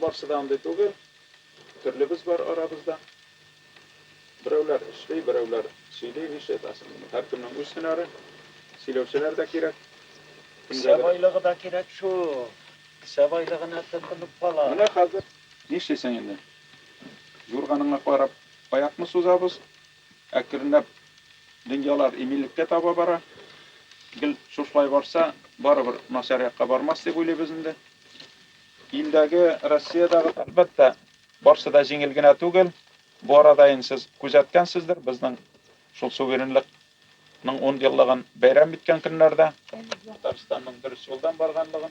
Барсы да андый түгел. Төрлебез бар арабызда. Берәүләр эшли, берәүләр сөйли, ишет астында. Һәркемнең үз һөнәре. Сөйләүчеләр дә кирәк. Кесә байлыгы да кирәк шул. Кесә байлыгына тотынып кала. Менә хәзер нишлисең инде? Юрганыңа карап аякны сузабыз. Әкренләп дөньялар иминлеккә таба бара. Гел шушылай барса, барыбер начар якка бармас дип уйлыйбыз инде. Илдәге, Россиядәге, әлбәттә, барсы да җиңел генә түгел. Бу арада инде сез күзәткәнсездер, безнең шул суверенлык ның ун еллыгын бәйрәм иткән көннәрдә Татарстанның дөрес юлдан барганлыгын,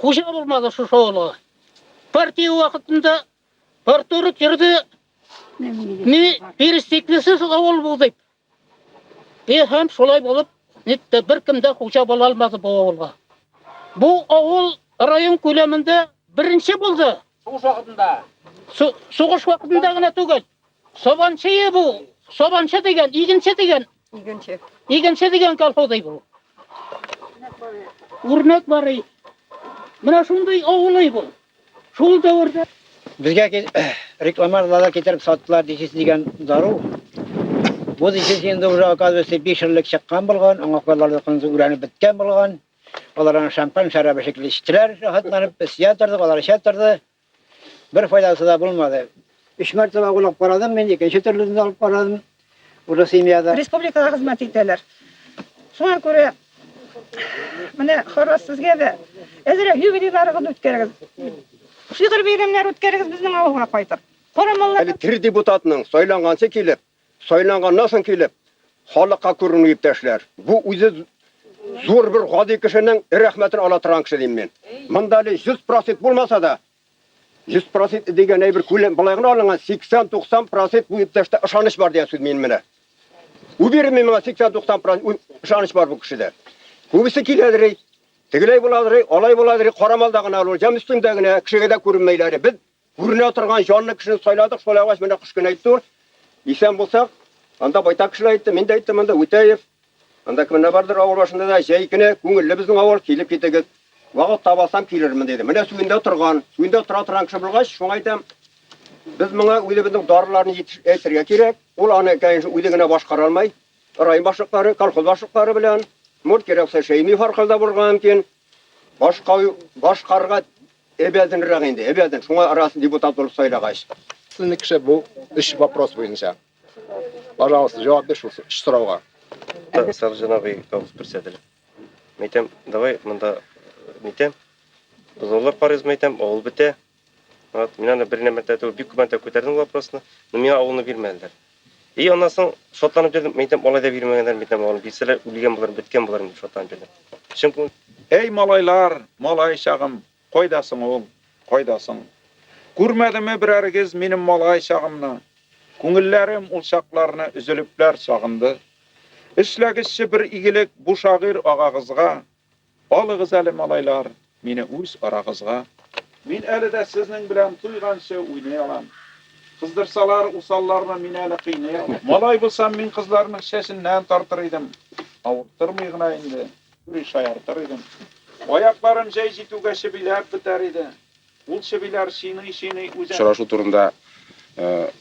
Хуҗа булмады шушы авылга. Партия вакытында партуры керде. Ни перестеклесе шул авыл булды. И һәм шулай булып, нитте бер кем дә хуҗа була алмады бу авылга. Бу авыл район күләмендә беренче булды. Сугыш вакытында. Сугыш вакытында гына түгел. Сабанчы бу. Сабанчы дигән, игенче дигән Игенче. Игенче дигән колхозый бу. Үрнәк барый. Менә шундый авылый бу. Шул дәвердә безгә рекламаларда китереп саттылар дисез дигән дару. Бу дисез инде уже оказывается 5 еллык чыккан булган, аңа кадәрле кынзы үрәнеп беткән булган. Алар аны шампан шәрабы шикелле эчтеләр, рәхәтләнеп, без ятырдык, алар ятырды. Бер файдасы да булмады. Өч мәртәбә уйлап карадым мин, икенче төрлесен дә алып карадым. Уже семьяда. Республикага хезмәт итәләр. Шуңа күрә менә Харрас сезгә дә әзрәк юбилейларыгызны үткәрегез. Шигырь бәйрәмнәре үткәрегез безнең авылга кайтып. Әле тер депутатның сайланганчы килеп, Сайланганнан соң килеп, халыкка күренү иптәшләр. Бу үзе зур бер гади кешенең рәхмәтен ала торган кеше дим мин. Монда әле 100 процент булмаса да, 100 процент дигән әйбер күләм болай гына алынган, 80-90 процент бу иптәштә ышаныч бар дигән сүз мин менә. Уверенный миңа 80-90 процент ышаныч бар бу кешедә. Күбесе киләдер, тегеләй буладыр, алай буладыр, карамалда гына ул, җам өстендә генә, кешегә дә күренмәйләр. Без Күренә торган җанлы кешене сайладык, шулай булгач, менә кыш көне әйтте ул, исән булсак, анда байтак кешеләр әйтте, мин дә әйттем анда, Үтәев, анда кемнәр бардыр авыл башында да, җәй көне күңелле безнең авыл, килеп китегез, вакыт таба алсам, килермен, диде. Менә Сүндә торган, Сүндә тора торган кеше булгач, шуңа әйтәм, без моңа үзебезнең дарыларны әйтергә кирәк. Ул аны, конечно, үзе генә башкара алмый. Район башлыклары, колхоз башлыклары белән, может, кирәк булса, Шәймиев аркылы да булырга мөмкин. Башкаю, башкарга әбәденрәк инде, әбәден. Шуңа арасы депутат булып сайлагач. Сезнең кеше бу өч вопрос буенча. Пожалуйста, җавап бир шул өч сорауга. Сак җанабый авыз күрсәтелә. Мәйтәм, давай монда мәйтәм. Бозаулар карыйбыз мәйтәм, авыл бетә. Вот, мин аны беренә мәртәбә түгел, бик күп мәртәбә күтәрдем вопросны, но миңа авылны бирмәделәр. И аннан соң шатланып йөрдем, мин әйтәм, алай да бирмәгәннәр, мин әйтәм, авылны бирсәләр, үлгән булырмын, беткән булырмын дип шатланып йөрдем. Чын күңел. Әй малайлар, малай чагым, кайда соң ул, кайда соң? Күрмәдеме берәрегез минем малай чагымны? Күңелләрем ул чакларны өзелепләр сагынды. Эшләгезче бер игелек бу шагыйрь агагызга, Алыгыз әле, малайлар, мине үз арагызга. Мин әле дә сезнең белән туйганчы уйный алам. Кыздырсалар, усалларны мин әле кыйный алам. Малай булсам, мин кызларның чәченнән тартыр идем. Авырттырмый гына инде, юри шаяртыр идем. Аякларым җәй җитүгә чебиләп бетәр иде. Ул чебиләр чиный-чиный үзен. Очрашу турында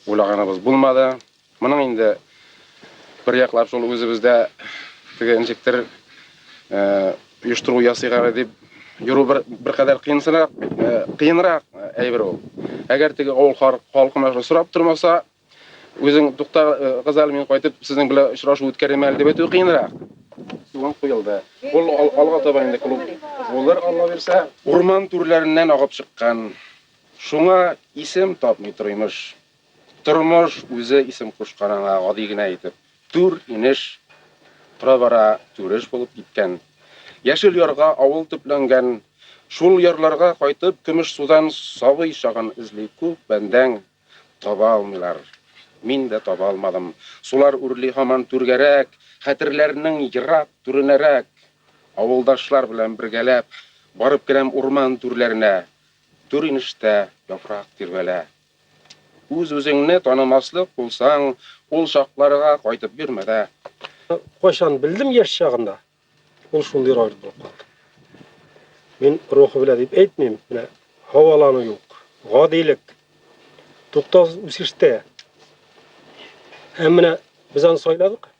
уйлаганыбыз булмады. Моның инде бер яклап шул үзебездә теге ничектер оештыру ясыйк әле дип йөрү бер беркадәр кыенсынрак, кыенрак әйбер ул. Әгәр теге авыл халкына шул сорап тормаса, үзең тукта газал мин кайтып сезнең белән очрашу үткәрәм әле дип әйтү кыенрак. Суган куелды. Ул алга таба инде клуб булыр, Алла бирсә. Урман түрләреннән агып чыккан. Шуңа исем тапмый тормыш. Тормыш үзе исем кушкан аңа гади генә итеп. Түр, инеш, тора-бара Түреш булып киткән. Яшел ярга авыл төпләнгән. Шул ярларга кайтып, Көмешсудан сабый чагын эзли күп бәндәң. Таба алмыйлар. Мин дә таба алмадым. Сулар үрли һаман түргәрәк, хәтерләрнең ерак түренәрәк. Авылдашлар белән бергәләп, барып керәм урман түрләренә. Түр-инештә яфрак тирбәлә. Үз-үзеңне танымаслык булсаң, ул чакларга кайтып йөрмә дә. Кайчан белдем яшь чагында, ул шундый роль булып калды. Мин рухы белән дип әйтмим, менә һавалану юк, гадилек, туктаусыз үсештә. Һәм менә без аны сайладык.